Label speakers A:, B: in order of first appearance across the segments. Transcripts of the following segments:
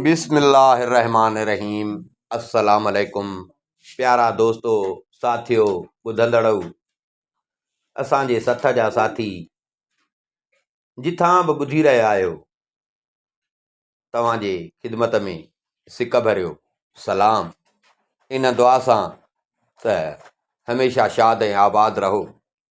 A: بسم الله الرحمٰن الرحيم السلام عليڪم پيارا دوستو ساٿيو ٻڌندڙؤ اسان جي سٿ جا ساٿي جٿان به ٻڌي رهيا آهيو توهان جي خدمت ۾ سڪ ڀريو سلام ان دعا سان ته هميشه شاد ۽ آباد رهو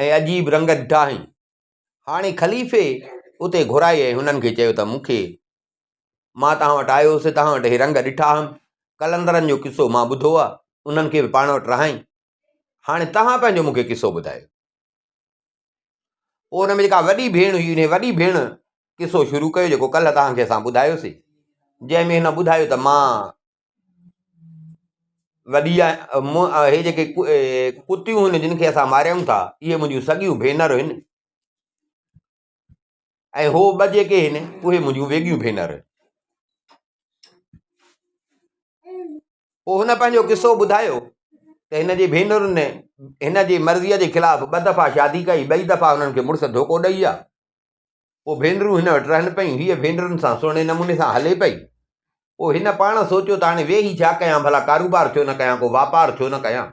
A: ۽ عجيب رنگ ڏٺا هئائين. هاڻي خليفي اتي گهرائي ۽ هنن کي چيو ته مون کي مان توهان وٽ آيو هوس توهان وٽ اهي رنگ ڏٺا هئم. قلندرن جو قصو مان ٻڌو آهي انهن کي به پاڻ وٽ رهائين. هاڻي توهان پنهنجو مون کي قصو ٻڌايو. پوء ان ۾ جيڪا وڏي ڀيڻ هئي انهيء وڏي ڀيڻ قصو شروع ڪيو جيڪو ڪلهه توهان کي اسان ٻڌايوسي جنهن ۾ هن ٻڌايو ته مان وڏي آهي هي جيڪي ڪتيون هن جن کي اسان ماريون ٿا اهي منهنجون سڳيون ڀينرون هن ۽ هو ٻه جيڪي هن اهي منهنجون ويڳيون ڀينرون پوء هن پنهنجو قصو ٻڌايو ته هن جي ڀينرن هن جي مرضيء جي خلاف ٻه دفعا شادي ڪئي ٻئي دفعا هنن کي مڙس ڌوڪو ڏئي ويا پوء ڀينرون هن وٽ رهن پيون. هيء ڀينرن سان سهڻي نموني سان هلي پئي. پوء هن پاڻ سوچيو ته هاڻي ويهي ڇا ڪيان، ڀلا ڪاروبار ڇو نه ڪيان، ڪو واپار ڇو نه ڪيان.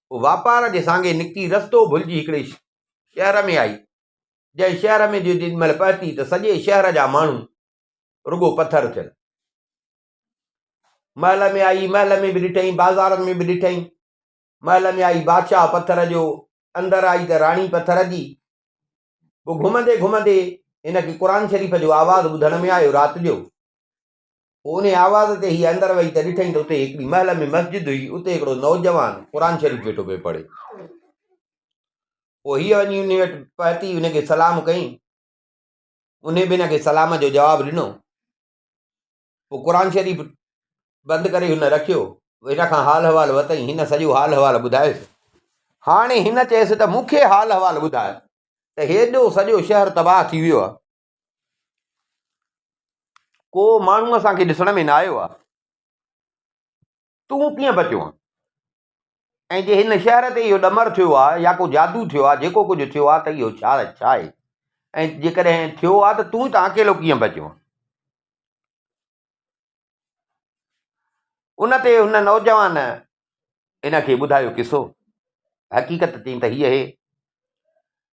A: پوء واپار جي سانگي نڪتي رستو ڀلجي هڪڙي شهر ۾ آئي. جنهن شهر ۾ جو جيڏي مهل پهتي ته سڄي شهر جا ماڻهو رڳو پٿر ٿيل. محل ۾ آئي، محل ۾ به ڏٺئين، بازارن ۾ به ڏٺئين. محل ۾ آئي، بادشاهه پٿر جو، اندر آئي ته راڻي پٿر جي. پوء گهمندي گهمندي هن کي قرآن شريف جو آواز ٻڌڻ ۾ آيو رات جو. پوء انهي آواز تي هيء اندر وئي ته ڏٺائين ته اتي هڪڙي محل ۾ مسجد هئي اتي هڪڙو نوجوان قرآن شريف ويٺو پئي پڙهي. پوء هيء وڃي انهي وٽ پهتي انهي کي سلام ڪيائين. انهي به هن کي سلام جو جواب ڏنو. پوء قرآن شريف بند ڪري هن رکيو هن کان حال احوال ورتائين هن سڄو حال احوال ٻڌايس هاڻي هن چيس ته مون کي حال احوال ٻڌاء ته هيڏو سڄو شهر تباهه ٿي ويو آهي ڪو ماڻهو اسان کي ڏسڻ ۾ نه آيو آهي تون ڪيئن بچيو آهين؟ ۽ جي هن شهر تي اهو ڏمر ٿيو آهي يا ڪو جادو ٿيو آهي، جيڪو ڪجهه ٿيو آهي ته اهو ڇا آهي؟ ۽ جيڪڏهن ٿيو آهي ته تون هتان اڪيلو ڪيئن بچيو آهين؟ ان تي هن نوجوان هن کي ٻڌايو قصو. حقيقت چيائين ته هيء هي.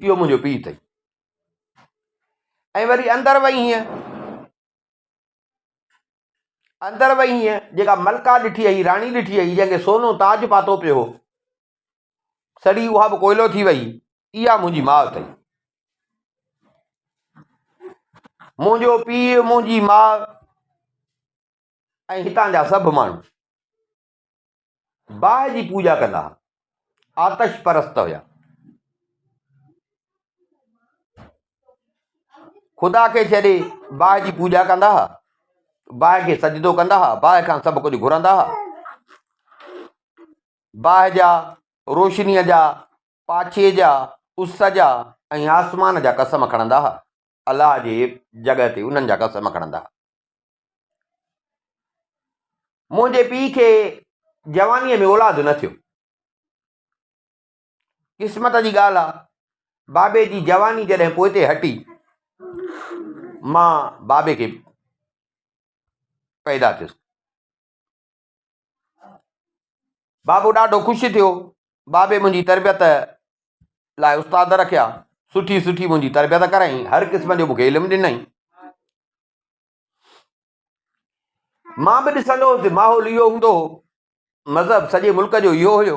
A: اهو منهنجو پيء اٿئي ۽ وري اندر وئي هينئن اندر وئي هينئن جيڪا ملڪا ڏٺي هئي راڻي ڏٺي هئي جنهن کي سونو تاج پاتو پيو هو سڙي اها به ڪوئلو ٿي وئي اها منهنجي ماء اٿئي منهنجو پيء منهنجي ماء ۽ هتان جا سڀ ماڻهو باهه جي پوڄا ڪندا ها، آتش پرست هيا. خدا کي ڇڏي باهه جي پوڄا ڪندا ها، باهه کي سجدو ڪندا ها، باهه کان سڀ ڪجهه گهرندا ها. باهه جا روشنيء جا پاڇي جا اس جا ۽ آسمان جا قسم کڻندا ها الله جي جڳهه تي انهن جا قسم کڻندا. منهنجي پيء کي جوانيء ۾ اولاد نه ٿيو. قسمت جي ڳالهه آ، بابي جي جواني جڏهن پوئتي هٽي، مان بابي کي پيدا ٿيس. بابو ڏاڍو خوش ٿيو. بابي منهنجي تربيت لاء استاد رکيا. سٺي سٺي منهنجي تربيت ڪرائين. هر قسم جو مونکي علم ڏنائين. مان به ڏسندو هوس ماحول اهو هوندو هو. مذهب سڄي ملڪ جو اهو هيو.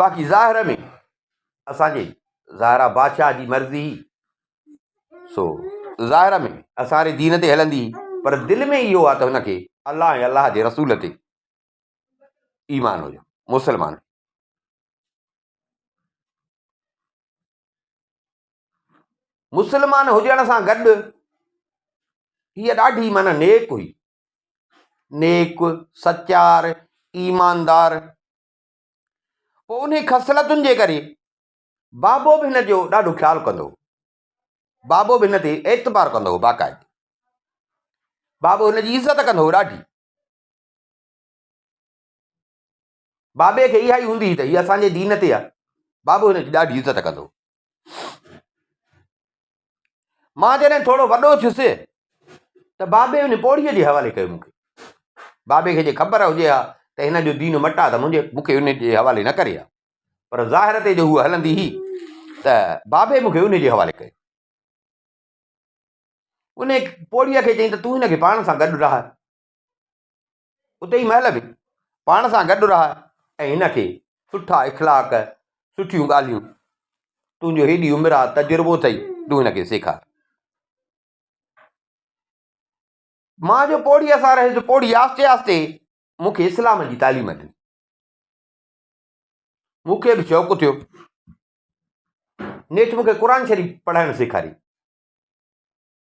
A: باقي ظاهر ۾ اسان جي ظاهرا بادشاهه جي مرضي سو ظاهر ۾ اسان جي دين تي هلندي پر دل ۾ اهو آ ته هن کي الله ۽ الله جي رسول تي ايمان هجو مسلمان مسلمان هجڻ سان گڏ هي ڏاڍي من نيڪ هئي نيڪ، سچار، ايماندار. پوء انهي خصلتن جي ڪري بابو به هن جو ڏاڍو خيال ڪندو هو. بابو به هن تي اعتبار ڪندو هو باقاعدي. بابو هن جي عزت ڪندو هو ڏاڍي. بابي کي اها ئي هوندي هئي ته هي اسان جي دين تي آهي، بابو هن جي ڏاڍي عزت ڪندو هو. مان جڏهن ٿورو وڏو ٿيس ته بابي ان پوڙهي جي حوالي ڪيو مون کي. بابي کي جي خبر هجي ها ته هن جو دين مٽ آهي ته منهنجي مون کي ان جي حوالي نه ڪري ها. پر ظاهر تي جو هوء هلندي هئي ته بابي مون کي ان جي حوالي ڪيو. ان پوڙهي کي چيائين ته تون هن کي پاڻ سان گڏ رهاء. اتي مهل به پاڻ سان گڏ رهاء ۽ هن کي سٺا اخلاق سٺيون ڳالهيون تنهنجو هيڏي عمر آ تجربو اٿئي تون هن کي سيکار مان جو پوڙهيء سان رهيس پوڙهي آهستي آهستي مون کي اسلام جي تعليم ڏني مون کي به شوق ٿيو نيٺ مون کي قرآن شريف پڙهائڻ سيکاري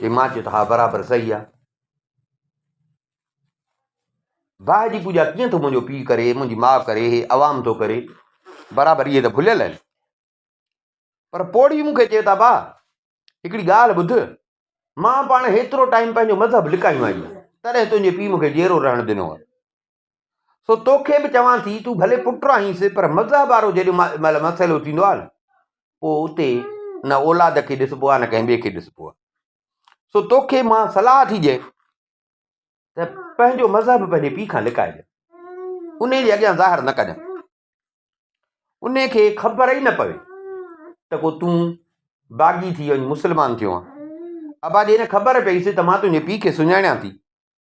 A: چي مان چيو ته ها برابر صحيح آ باهه جي پوڄا ڪيئن ٿو منهنجو پيء ڪري منهنجي ماء ڪري هي عوام ٿو ڪري برابر اهي ته ڀليل آهن پر پوڙهي مون کي چئي ٿا باهه هڪڙي ڳالهه ٻڌ مان پاڻ هيترو ٽائيم پنهنجو مذهب لڪايو آهي تڏهن تنهنجي پيء مون کي جيرو رهڻ ڏنو آهي سو توکي به چوان ٿي تون ڀلي پٽ رهينس پر مذهب وارو جيڏو مهل مسئلو ٿيندو آهي نه پوء اتي نه اولاد کي ڏسبو آهي نه ڪنهن ٻئي کي ڏسبو آهي سو توکي مان صلاح ٿي ڏيان ته پنهنجو مذهب پنهنجي پيء کان لڪائجي ان جي اڳيان ظاهر نه ڪجان ان کي خبر ئي نه پوي ته کو تون باغي ٿي وڃ مسلمان ٿيو آهي ابا جي نه خبر پئيس ته مان تنهنجي پيء کي سڃاڻيان ٿي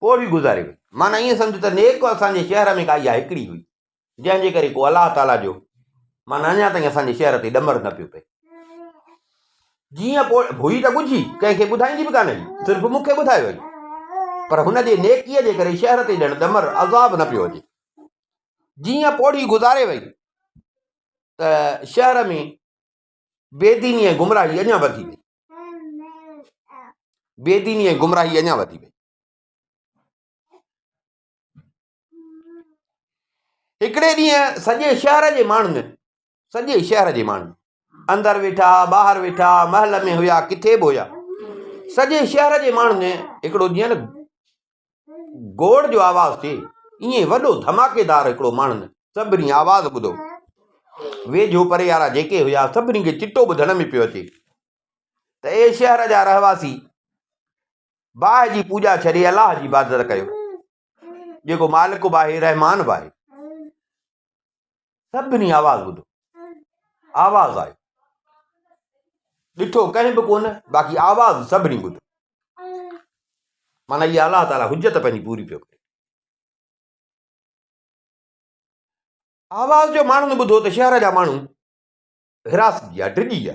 A: پوء به گذاري وئي معنيٰ ائين سمجهه ته نيڪ اسان جي شهر ۾ ڪا اها هڪڙي هئي جنهن جي ڪري ڪو الله تعاليٰ جو معنيٰ اڃا تائين اسان جي شهر تي ڏمر نه پيو پئي جيئن پوء هئي ته ڳجهي ڪنهن کي ٻڌائيندي به ڪانه هئي صرف مون کي ٻڌايو هئي پر هن جي نيڪيء جي ڪري شهر تي ڄڻ ڏمر عذاب نه پيو اچي جيئن پوڙهي گذاري وئي ته شهر ۾ بي ديني ۽ گمراهي اڃا وڌي وئي. بي ديني ۽ گمراهي اڃا وڌي وئي. هڪڙي ڏينهن سڄي شهر جي ماڻهن سڄي شهر جي ماڻهن اندر ويٺا ٻاهر ويٺا محل ۾ هيا ڪٿي به هيا سڄي شهر جي ماڻهن هڪڙو ڏينهن گوڙ جو آواز ٿئي، ائين وڏو ڌماڪيدار هڪڙو ماڻهن سڀني آواز ٻڌو. ويجهو پري وارا جيڪي هيا، سڀني کي چٽو ٻڌڻ ۾ پيو اچي ته اي شهر جا رهواسي، باهه جي پوڄا ڇڏي الله جي عبادت ڪيو، جيڪو مالڪ به آهي، رحمان به آهي. سڀني آواز ٻڌو، آواز آيو، ڏٺو ڪنهن به ڪونه باقي آواز سڀني ٻڌو، مانا اها الله تعالي حجت پنهنجي پوري پيو ڪري. آواز جو ماڻهن ٻڌو ته شهر جا ماڻهو هراس جي ڊڄي ويا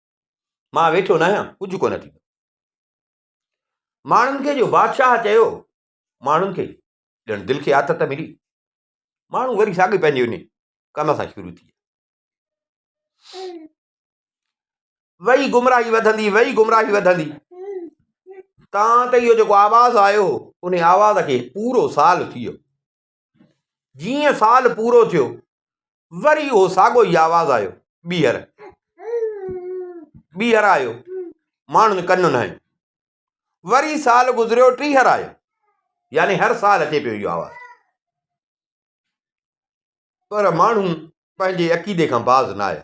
A: مان ويٺو ناهيان، ڪجهه ڪونه ٿيندو. ماڻهن کي جو بادشاهه چيو، ماڻهن کي ڄڻ دل کي آٿت ملي. ماڻهو وري ساڳي پنهنجي ان ڪم سان شروع ٿي وئي گمراهي وڌندي وئي گمراهي وڌندي تان ته اهو جيڪو آواز آيو ان آواز کي پورو سال ٿي ويو جيئن سال پورو ٿيو، وري اهو ساڳو ئي آواز آيو، ٻيهر، ٻيهر آيو، ماڻهن ڪنون هنيون. وري سال گذريو، ٽيهر آيو، يعني هر سال اچي پيو اهو آواز. پر ماڻهو پنهنجي عقيدي کان باز نه آيا.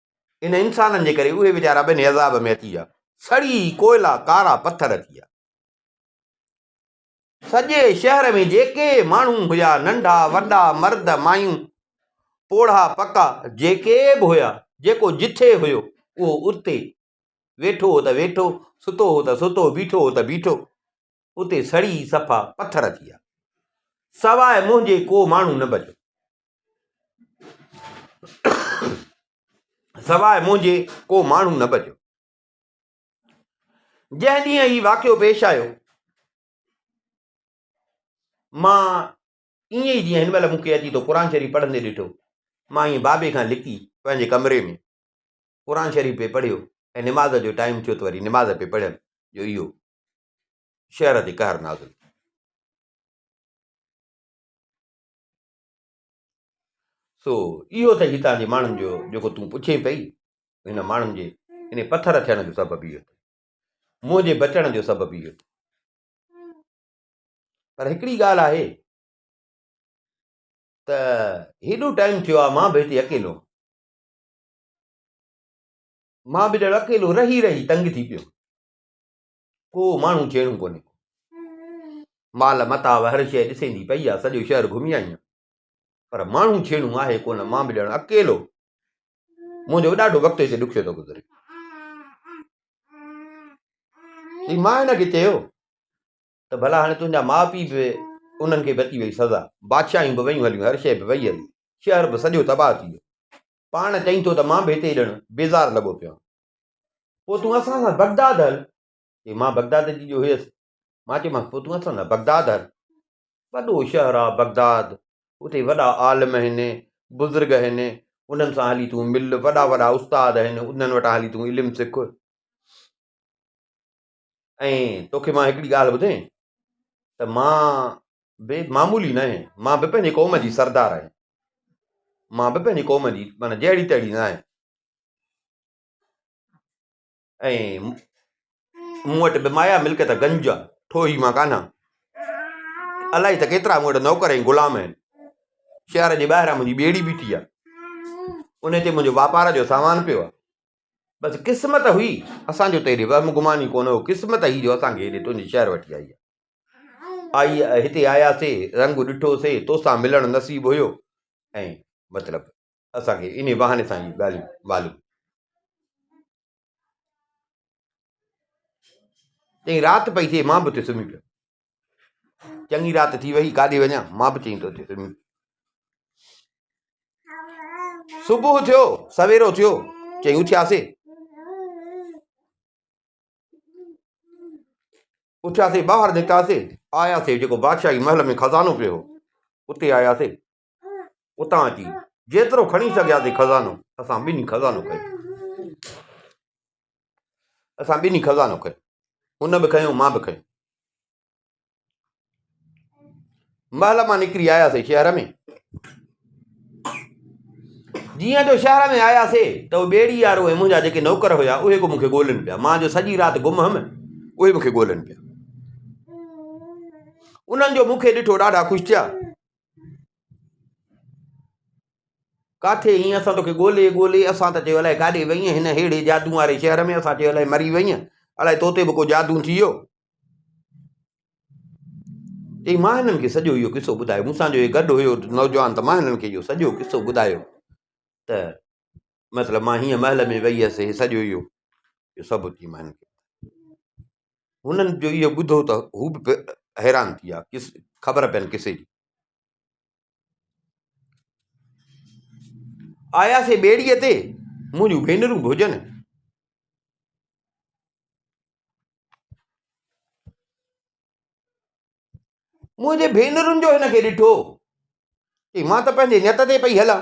A: انهن انسانن جي ڪري اهي ويچارا به انهي عذاب ۾ اچي ويا. سڙي ڪوئلا ڪارا پٿر ٿي ويا. سڄي شهر ۾ جيڪي ماڻهو هيا ننڍا وڏا مرد مايون پوڙها پڪا جيڪي به هيا جيڪو جٿي هيو اهو اتي ويٺو هو ته ويٺو ستو هو ته ستو بيٺو هو ته بيٺو اتي سڙي صفا پٿر ٿي ويا سواء منهنجي ڪو ماڻهو نه بچيو. سواء منهنجي ڪو ماڻهو نه بچيو. جنهن ڏينهن هي واقعو پيش آيو مان ائين ئي جيئن هن مهل مون کي اچي ٿو قرآن شريف پڙهندي ڏٺو مان ائين بابي کان لڪي پنهنجي ڪمري ۾ قرآن شريف پي پڙهيو ۽ نماز جو ٽائيم ٿيو ته وري نماز پي پڙهيم جو اهو شهر تي قهر نازل سو اهو ته هتان جي ماڻهن جو جيڪو تون پڇين پئي، هن ماڻهن جي انهي پٿر ٿيڻ جو سبب اهو ٿئي. منهنجي بچڻ جو سبب اهو ٿئي. پر هڪڙي ڳالهه آهي ته هيڏو ٽائيم ٿيو آهي مان به هتي اڪيلو آهيان. مان به ڄڻ اڪيلو رهي رهي تنگ ٿي پيو. ڪو ماڻهو چيڻو ڪونهي ڪو مال متاع هر شيء ڏسيندي پئي آ سڄو شهر گهمي آئين پر ماڻهو چيڻو آهي ڪونه مان به ڄڻ اڪيلو منهنجو ڏاڍو وقت هتي ڏکيو ٿو گذري ٿي مان هن کي چيو ته ڀلا هاڻي تنهنجا ماء پيء به انهن کي به اچي وئي سزا بادشاهيون به ويون هليون هر شيء به وئي هلي شهر به سڄو تباهه ٿي ويو پاڻ چئين ٿو ته مان به هتي ڄڻ بيزار لڳو پيو پوء تون اسان سان بغداد هل چي مان بغداد جي جو هيس مان چيمانس پوء تون اسان سان بغداد هل وڏو شهر آ بغداد اتي وڏا عالم آهن بزرگ آهن انهن سان هلي تون مل وڏا وڏا استاد آهن انهن وٽان هلي تون علم سک ۽ توکي مان هڪڙي ڳالهه ٻڌين ته مان به معمولي ناهي مان به پنهنجي قوم جي سردار آهي مان به پنهنجي قوم جي معنی جهڙي تهڙي ناهي ۽ مون وٽ به مايا ملڪيت گنج جا ٺوهي مان ڪانه الاهي ته ڪيترا مون وٽ نوڪر ۽ غلام آهن شهر جي ٻاهران منهنجي ٻيڙي بيٺي آهي ان تي منهنجو واپار جو سامان پيو آهي بس قسمت هئي اسان جو تيري وهم گمان ئي ڪونه هو قسمت هئي جو اسان کي هيڏي تنهنجي شهر وٺي آئي آئي هتي آياسي رنگ ڏٺوسي توسان ملڻ نصيب هيو ۽ مطلب اسان کي انهي بهاني سان هي ڳالهيون معلوم چئي رات پئي ٿئي مان به اتي سمهي پيو چڱي رات ٿي وئي ڪاڏي وڃان مان به چئين ٿو اچي سمي صبح ٿيو سويرو ٿيو چئين اٿياسي اٿياسي ٻاهر نڪتاسي آياسي جيڪو بادشاهي محل ۾ خزانو پيو هو اتي آياسي اتان اچي جيترو کڻي سگهياسين خزانو اسان ٻنهي خزانو کنيو اسان ٻنهي خزانو کنيو هن به کنيو مان به کنيو محل مان نڪري آياسي شهر ۾ جيئن جو شهر ۾ آياسي ته اهو ٻيڙي وارو ۽ منهنجا جيڪي نوڪر هيا اهي به مونکي ڳولين پيا مان جو سڄي رات گم هيم اهي مونکي ڳولين پيا انهن جو مونکي ڏٺو ڏاڍا خوش ٿيا ڪاٿي ايئن اسان توکي ڳولي ڳولي اسان ته چيو الاء ڪاڏي وئينء هن ههڙي جادو واري شهر ۾ اسان چيو الاء مري وئينء الاء توتي به ڪو جادو ٿي ويو چي مان هنن کي سڄو اهو قصو ٻڌايو مون سان جو هي گڏ هيو نوجوان ته مان هنن کي اهو سڄو قصو ٻڌايو ته مطلب مان هيئن محل ۾ ويئي هيس هي سڄو اهو جو سڀ اچي مان هنن کي هنن جو اهو ٻڌو ته هو به حيران ٿي ويا ڪس خبر پين ڪسي جي آياسي ٻيڙيء تي منهنجون ڀينرون به هجن منهنجي ڀينرن جو هن کي ڏٺو چي مان ته پنهنجي نيت تي پئي هلان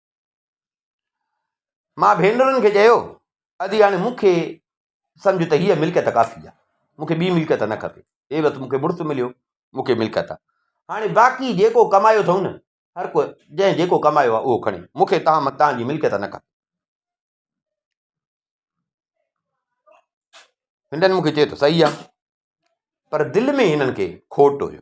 A: مان ڀينرن کي چيو، ادي هاڻي مون کي سمجهه ته هيء ملڪيت ڪافي آهي. مون کي ٻي ملڪيت نه کپي. هيء وت مون کي مڙس مليو، مون کي ملڪيت آهي. هاڻي باقي جيڪو ڪمايو اٿئون نه، هر ڪو جنهن جيڪو ڪمايو آهي اهو کڻي. مون کي توهان تان جي ملڪيت نه کپي. هنن مون کي چيو ته صحيح آهي. پر دل ۾ هنن کي کوٽ هيو.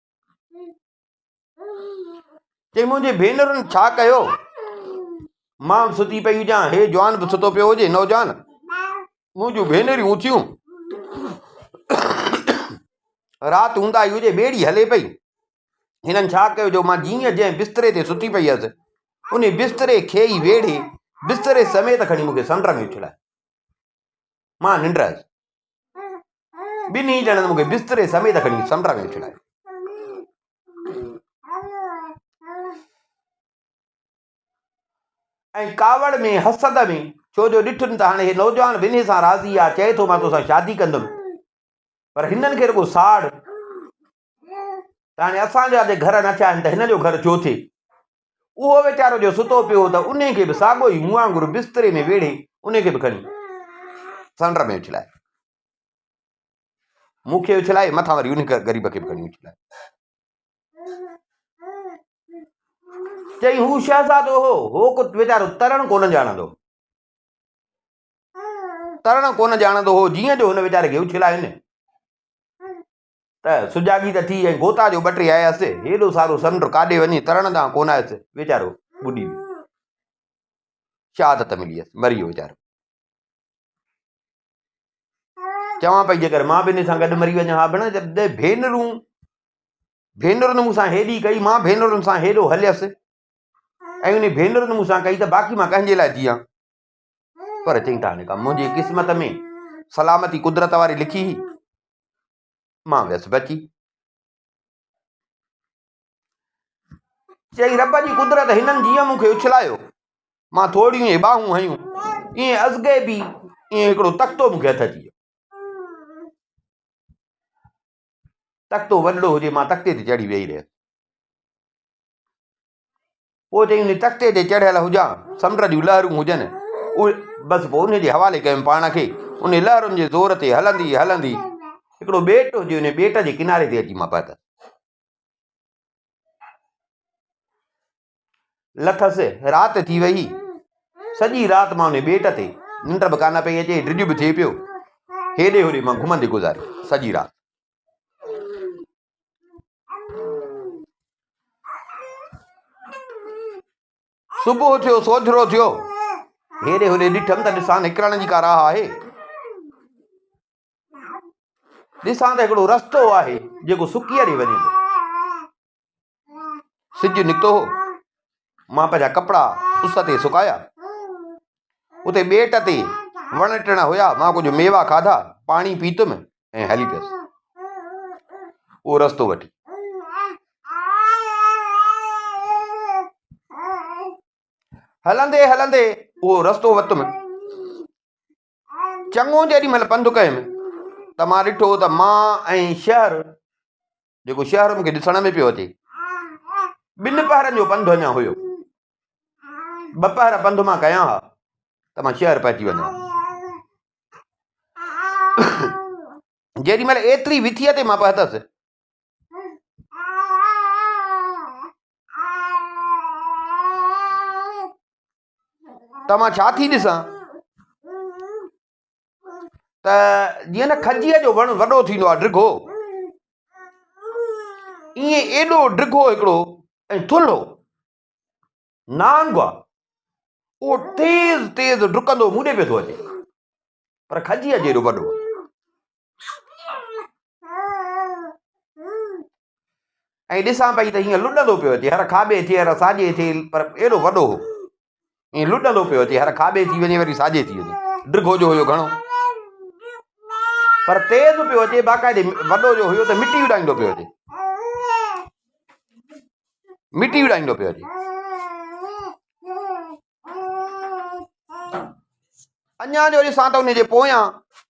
A: چي منهنجي ڀينرن ڇا ڪيو؟ مان به ستي پئي هجان، هي جوان به ستو پيو هجي، نوجوان منهنجون ڀينريون اٿيون، رات اونداهي هجي، ٻيڙي هلي پئي، هنن ڇا ڪيو جو مان جيئن جنهن بستري تي ستي پئي هيس، انهي بستري کي ئي ويڙهي، بستري سميت کڻي مون کي سمنڊ ۾ اڇلائي. مان ننڊ آيس. ٻنهي ڄڻن مون کي بستري سميت کڻي سمنڊ ۾ اڇلايو. ۽ ڪاوڙ ۾ حسد ۾ ڇو جو ڏٺن ته هاڻي هي نوجوان ٻنهي سان راضي آ چئي ٿو مان توسان شادي ڪندم پر هنن کي رڳو ساڙ ته هاڻي اسان جا جي گهر نه ٿيا آهن ته هن جو گهر ڇو ٿئي؟ اهو ويچارو جو ستو پيو هو ته انهي کي به ساڳو ئي مون وانگر بستري ۾ ويڙهي انهي کي به کڻي سنڊ ۾ اڇلائي مون کي اڇلائي مٿان وري انهي غريب کي به کڻي اڇلائي چئي هو شهزادو هو هو ويچارو ترڻ ڪونه ڄاڻندو ترڻ ڪونه ڄاڻندو هو جيئن جو هن ويچاري کي اڇلايو نه ته سجاڳي ته ٿي ۽ غوطا جو ٻٽي آيس. هيڏو سارو سمنڊ ڪاڏي وڃي ترڻ ڏانهن ڪونه آيس. ويچارو ٻڏي ويو. شهادت ملي هيس. مري ويو ويچارو. چوان پئي جيڪر مان به ان سان گڏ مري وڃان ها ڀيڻ جڏهن ڀينرون ڀينرن مون سان هيڏي ڪئي مان ڀينرن سان هيڏو هليس ۽ انهي ڀينرن مون سان ڪئي ته باقي مان ڪنهن جي لاء جيان. پر چئين ته هاڻي ڪا منهنجي قسمت ۾ سلامتي قدرت واري لکي هئي مان ويس بچي چئين رب جي قدرت هنن جيئن مون کي اڇلايو مان ٿوريون اهي ٻاهون هيون ائين ازگي به ائين هڪڙو تختو مون کي هٿ اچي ويو تختو وڏڙو هجي مان تختي تي چڙهي ويهي رهيس پوء ته ان تختي تي چڙهيل هجان، سمنڊ جون لهرون هجن، بس پوء ان جي حوالي ڪيم پاڻ کي، انهن لهرن جي زور تي هلندي هلندي هڪڙو ٻيٽ هجي، ان ٻيٽ جي ڪناري تي اچي مان پهتس. لٿس، رات ٿي ويئي، سڄي رات مان ان ٻيٽ تي ننڊ به ڪانه پئي اچي، ڊڄ به ٿئي پيو، هيڏي هوڏي مان گهمندي گذاري سڄي رات. صبح ٿيو سوجھرو ٿيو هيڏي هوڏي ڏٺم ته ڏسان نڪرڻ جي ڪا راهه آهي ڏسان ته هڪڙو رستو آهي جيڪو سڪي ڏي وڃي ٿو سج نڪتو هو، مان پنهنجا ڪپڙا اس تي سڪايا، اتي ٻيٽ تي وڻ ٽڻ هيا، مان ڪجهه ميوا کاڌا، پاڻي پيتم ۽ هلي پيس. اهو رستو وٺي. هلندي هلندي اهو رستو وتم چڱو جيڏي مهل پنڌ ڪيم ته مان ڏٺو ته مان ۽ شهر جيڪو شهر مون کي ڏسڻ ۾ پيو اچي. ٻن پهرن جو پنڌ اڃا هيو. ٻه پهر پنڌ مان ڪيا ها ته مان شهر پهچي وڃان. جيڏي مهل ايتري وٿيء تي مان پهتس ته مان ڇا ٿي ڏسان؟ ته جيئن نه کجيء جو وڻ وڏو ٿيندو آهي ڊگهو ائين ايڏو ڊگهو هڪڙو ۽ ٿلهو نانگ آهي اهو تيز تيز ڊڪندو مون ڏي پيو ٿو اچي پر کجيء جيڏو وڏو ۽ ڏسان پئي ته هيئن لڏندو پيو اچي هر کاٻي ٿي هر ساڄي ٿي پر ايڏو وڏو هو ائين لڏندو پيو اچي هر کاٻي ٿي وڃي وري ساڄي ٿي وڃي ڊگهو جو هيو گهڻو پر تيز پيو اچي باقاعدي وڏو جو هيو ته مٽي اڏائيندو پيو اچي مٽي اڏائيندو پيو اچي اڃا جو ڏسان ته ان جي پويان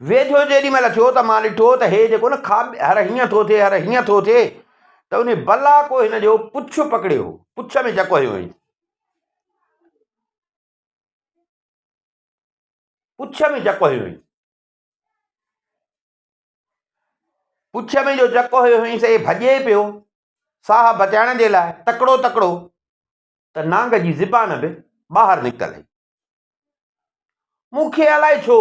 A: ويجهو جيڏي مهل ٿيو ته مان ڏٺو ته هي جيڪو نه کاٻي هر هيئن ٿو ٿئي هر هيئن ٿو ٿئي ته ان بلا ڪو هن جو پڇ پڪڙيو هو پڇ ۾ چڪ هيو هيئن پڇ ۾ چڪ هيو هيئن پڇ ۾ جو چڪ هيو هيئن سي ڀڄي پيو ساهه بچائڻ جي لاء تڪڙو تڪڙو ته نانگ جي زبان به ٻاهر نڪتل هئي. مون کي الائي ڇو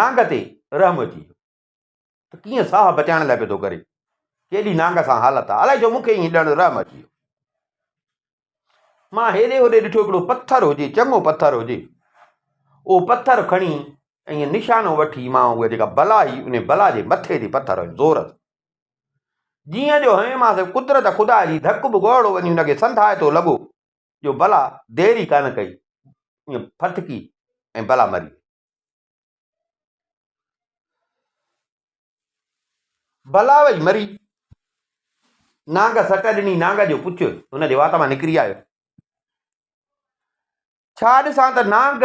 A: نانگ تي رحم اچي ويو ته ڪيئن ساهه بچائڻ لاء پئي ٿو ڪري. ڪيڏي نانگ سان حالت آهي. الائي ڇو مون کي ائين ڄڻ رحم اچي ويو. مان هيڏي هوڏي ڏٺو هڪڙو پٿر هجي، چڱو پٿر هجي. اهو پٿر کڻي ائين نشانو وٺي مان اها جيڪا بلا هئي انهي بلا جي مٿي تي پٿر هنيو زور سان. جيئن جو هنئين مان سواء قدرت خدا جي ڌڪ به گهوڙو وڃي هن کي سنڌائتو لڳو جو بلا دير ئي ڪانه ڪئي ائين ڦٿڪي ۽ بلا مري وئي. بلا وئي مري. نانگ سٽ ڏني نانگ جو پڇ هن جي وات مان نڪري آيو. ڇا ڏسان ته نانگ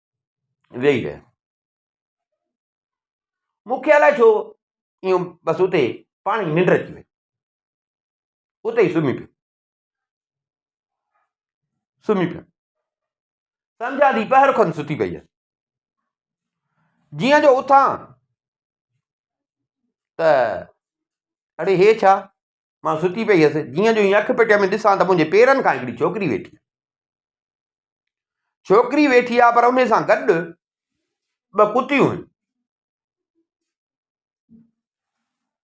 A: ويهي رهيو. مون کي الائي ڇو ائين بس اتي پاڻ ئي ننڊ اچي وئي اتي ئي سمهي پيو سمهي پيو سمجهان ٿي پهر کن ستي پئي هيس جيئن جو اٿان ته اڙي هي ڇا مان ستي پئي هيس جيئن جو هي اک پٽيء ۾ ڏسان ته منهنجي پيرن کان هڪڙي ڇوڪري ويٺي آهي ڇوڪري ويٺي آهي پر ان سان گڏ ٻه ڪتيون آهن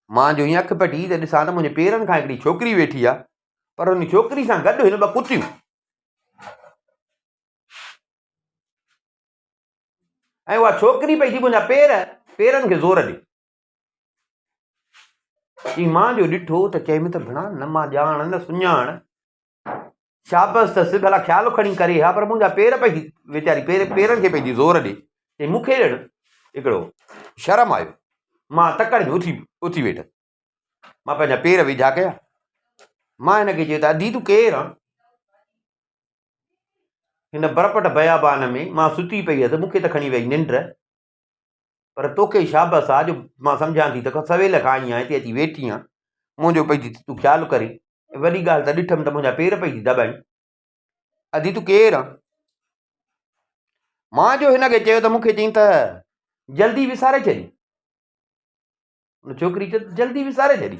A: مان جو هي اک پٽي ته ڏسان ته منهنجي پيرن کان هڪڙي ڇوڪري ويٺي آهي پر ان ڇوڪري سان گڏ هن ٻه ڪتيون ۽ اها ڇوڪري پئي ٿي منهنجا پير پيرن کي زور ڏي چي مان جو ڏٺو ته چيم ته ڀڻا نه مان ڄاڻ نه سڃاڻ شابس اٿس ڀلا خيال کڻي ڪري ها پر منهنجا پير پئي ويچاري پير پيرن کي پنهنجي زور ڏي ۽ مون کي ڄڻ هڪڙو شرم آيو مان تڪڙ ۾ اٿي اٿي ويٺس مان پنهنجا پير ويجها ڪيا مان هن کي چيو ته ادي تون ڪير آن هن برپٽ بيابان ۾ مان ستي پئي هيس مون کي ته کڻي وئي ننڊ پر توکي شابس آ جو مان سمجهان ٿي ته سويل کان آئين هتي اچي ويٺي آهيان منهنجو پئي ٿي تون خيال ڪرين وڏي ڳالهه ته ڏٺم ته منهنجا پير پئي ٿي دٻائين ادي تون ڪير آ مان جو هن کي چيو ته مونکي چئين ته جلدي وساري ڇڏي ان ڇوڪري چيو جلدي وساري ڇڏي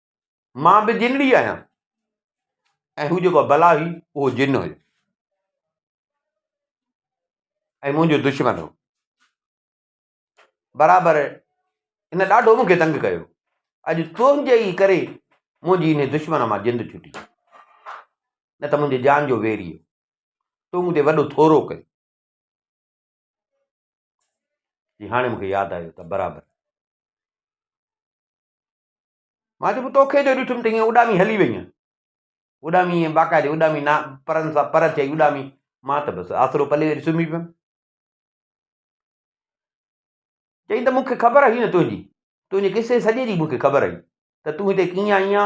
A: مان به جنڙي آهيان ۽ هو جيڪو بلا هئي اهو جن هيو ۽ منهنجو دشمن هو برابر هن ڏاڍو مونکي تنگ ڪيو اڄ تنهنجي ئي ڪري منهنجي هن دشمن مان جند ڇٽي نه ته منهنجي جان جو ويري هو تو مون تي وڏو ٿورو ڪيو جي هاڻي مونکي ياد آيو ته برابر مان چيو توکي جو ڏٺم ته ائين اڏامي هلي وئين اڏامي ائين باقاعدي اڏامي نا پرن سان پر چئي اڏامي مان ته بس آسرو پلي ويري سمهي پيم چئي ته مونکي خبر هئي نه تنهنجي تنهنجي قصي سڄي جي مونکي خبر هئي ته تون هتي ڪيئن آئي آ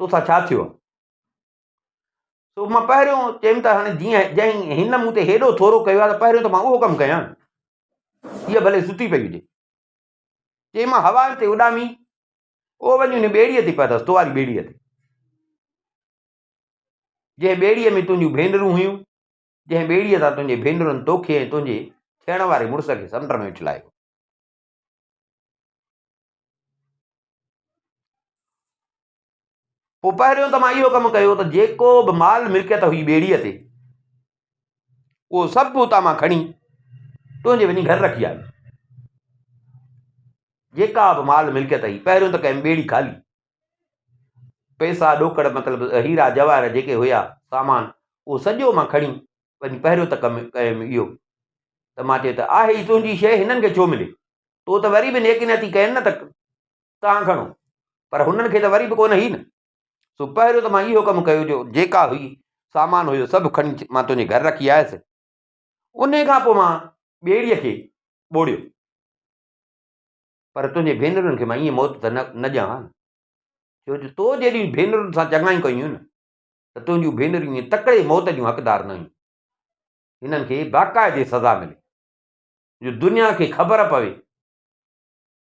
A: توسان ڇا ٿيو آ سو مان پهريون چيم ته هاڻي جيئن جنهن هن مون تي هيڏو ٿورو ڪيو آ ته پهريون ته مان اهو ڪم ڪيان هيء ڀلي ستي پئي هجي چيائين مان هوائن تي اڏامي او وڃي ان ٻيڙيء تي پيداس تو واري ٻيڙيء تي جنهن ٻيڙيء ۾ تنهنجون ڀينرون هيون جنهن ٻيڙيء تان تنهنجي ڀينرن توکي ۽ تنهنجي ٿيڻ واري مڙس کي سمنڊ ۾ اڇلايو پوء پهريون ته مان اهو ڪم ڪيو ته جيڪو به مال ملڪيت هئي ٻيڙيء تي اهو سڀ اتان مان کڻي تنهنجي وڃي گهر رکي آيس جيڪا به مال ملڪيت هئي پهريون ته ڪيم ٻيڙي خالي پئسا ڏوڪڙ مطلب هيرا جواهر جيڪي هيا سامان اهو سڄو مان کڻي وڃي پهريون ته ڪم ڪيم اهو ته مان چيو ته آهي ئي تنهنجي شيء هنن کي ڇو ملي تو ته وري به نيڪي نٿي ڪين نه ته توهان کڻو پر هنن کي ته وري به ڪونه هئي نه. سو پهريون ته مان اهو ڪم ڪيو جو جيڪا هئي سامان هيو سڀ کڻي مان تنهنجي گهر رکي آيس. انهي کان پوء مان ٻيڙيء کي ٻوڙيو. پر تنهنجي ڀينرن کي مان ائين موت ته نه ڏيان ها نه. ڇو جو تو جيڏيون ڀينرن سان چڱايون ڪيون هيون نه ته تنهنجون ڀينرون ائين تڪڙي موت جون حقدار نه هيون. هنن کي باقاعدي سزا ملي جو دنيا کي خبر پوي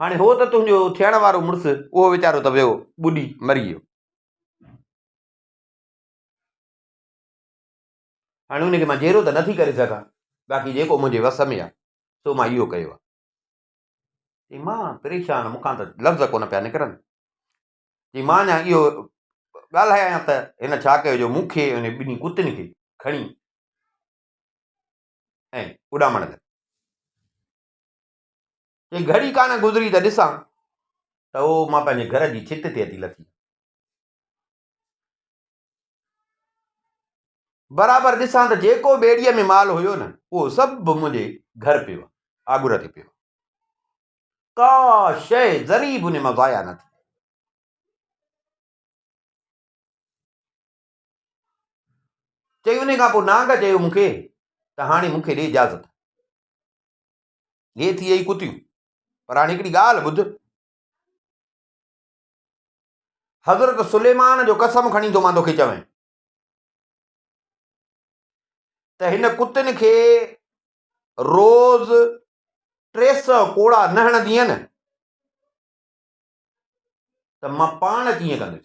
A: هاڻي هو ته تنهنجو ٿيڻ وارو مڙس، اهو ويچارو ته ويو، ٻڏي مري ويو. هاڻي ان کي مان جيئرو ته نه ٿي ڪري سگهان، باقي جيڪو منهنجي وس ۾ آهي، سو مان اهو ڪيو آهي. چيائين، مان پريشان، مون کان ته لفظ ڪونه پيا نڪرن. چيائين، مان اڃا اهو ڳالهايان ته هن ڇا ڪيو جو مون کي ۽ ٻنهي ڪتين کي کڻي ۽ اڏامڻ لڳو. چيائين، گهڙي ڪا نه گذري ته ڏسان ته او مان پنهنجي گهر جي ڇت تي اچي لٿي. برابر ڏسان ته جيڪو ٻيڙيء ۾ مال هيو نه، اهو سڀ منهنجي گهر پيو آهي، آڳر تي پيو آهي. ڪا شيء ذري به ان مان ضايع نه ٿي. چيائين، ان کان پوء نانگ چيو مون کي ته هاڻي مون کي ڏي اجازت. هي ٿئي ئي ڪتيون. پر هاڻي هڪڙي ڳالهه ٻڌ. حضرت سليمان جو قسم کڻي ٿو مان توکي چوين ته هن ڪتين کي روز ٽي سؤ ڪوڙا نه هڻندينء ته مان پاڻ ڪيئن ڪندس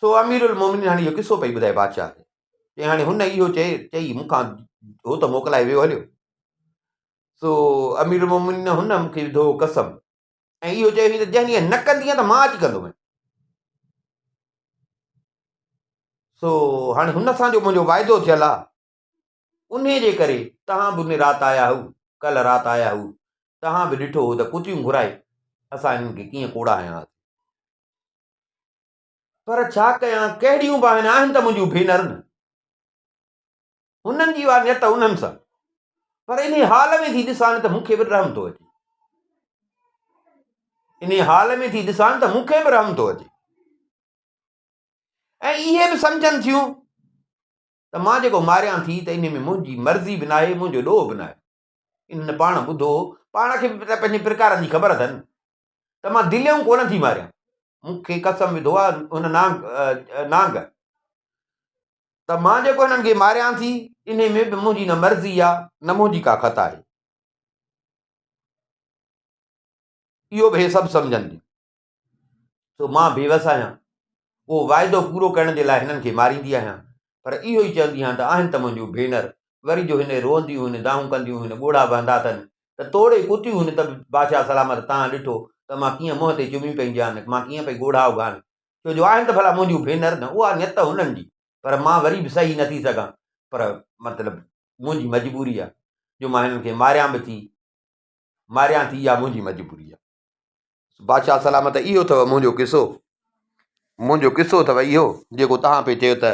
A: سو امير المومنين هاڻي اهو قصو پئي ٻڌائي بادشاهه کي چي هاڻي هن اهو چئي چئي مون کان هو ته موڪلائي ويو هليو سو امير المومنين هن مون کي وڌو قسم ۽ اهو چيو هي ته جنهن ڏينهن نه ڪندينء ته مان اچي ڪندومين سو هاڻي هن سان جو منهنجو واعدو ٿيل آهي انهيء جي ڪري توهان به ان رات آيا هئو، ڪلهه رات آيا هئو، توهان به ڏٺو هئو ته ڪتيون گهرائي اسان هنن کي ڪيئن ڪوڙا هنيا هئاسين. پر ڇا ڪيان، ڪهڙيون به آهن، آهن ته منهنجون ڀينر نه. هنن جي اها نيت انهن سان. پر انهيء حال ۾ ٿي ڏسان ته مون کي به رحم ٿو اچي. انهيء حال ۾ ٿي ڏسان ته مون کي به رحم ٿو اچي. ۽ اهي به سمجهن ٿيون ته مان جيڪو ماريان ٿي ته ان ۾ منهنجي مرضي به ناهي، منهنجو ڏوهه به ناهي. انهن پاڻ ٻڌو، پاڻ کي به ته پنهنجي پرڪارن جي خبر اٿن ته مان دليون ڪونه ٿي ماريان. مون کي قسم وڌو آهي هن نانگ، نانگ، ته مان جيڪو هنن کي ماريان ٿي، انهي ۾ به منهنجي نه مرضي آهي، نه منهنجي ڪا خطا آهي. اهو به هي سڀ سمجهن ٿيون. سو مان بيوس آهيان. اهو واعدو پورو ڪرڻ جي لاء هنن کي ماريندي آهيان، پر اهو ئي چوندي آهيان ته آهن ته منهنجون ڀينر. وري جو هن روئنديون هن دانهون ڪنديون هن ڳوڙها وهندا اٿن ته توڙي ڪتيون هن ته به بادشاهه سلامت تان ڏٺو ته مان ڪيئن منهن تي چميون پئي ڏيان مان ڪيئن پئي ڳوڙها اگهان ڇو جو آهن ته ڀلا منهنجون ڀينر نه اها نيت هنن جي پر مان وري به سهي نٿي سگهان پر مطلب منهنجي مجبوري آهي جو مان هنن کي ماريان به ٿي ماريان ٿي اها منهنجي مجبوري آهي. بادشاهه سلامت اهو اٿو منهنجو قصو منهنجو قصو اٿو اهو جيڪو تهان پي چيو ته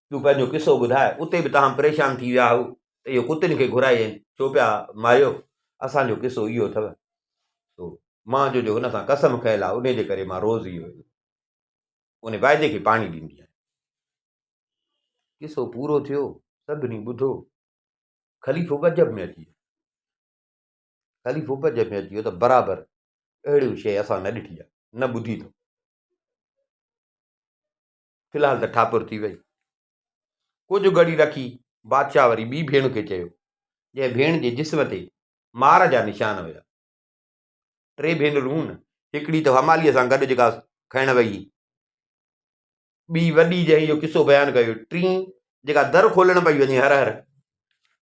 A: تون پنهنجو قصو ٻڌاء اتي به تهان پريشان ٿي ويا هو ته اهو ڪتن کي گهرائي ڇو پيا ماريو اسان جو قصو اهو اٿو سو مان جو جو هن سان قسم کيل آهي ان جي ڪري مان روز اهو ان واعدي کي پاڻي ڏيندي آهيان قصو پورو ٿيو سڀني ٻڌو خليفو گجب ۾ اچي خليفو به عجب ۾ اچي ويو ته برابر اهڙيون شيء اسان نه ڏٺي آهي نه ٻڌي اٿم في الحال ته ٺاڪر ٿي وئي ڪجهه گهڙي رکي بادشاهه وري ٻي ڀيڻ کي چيو جنهن ڀيڻ جي جسم تي مار جا نشان هيا ٽي ڀينرون هن هڪڙي ته هماليء سان گڏ جيڪا کائڻ وئي ٻي وڏي جنهن جو قصو بيان ڪيو ٽين جيڪا در کولڻ پئي وڃي هر هر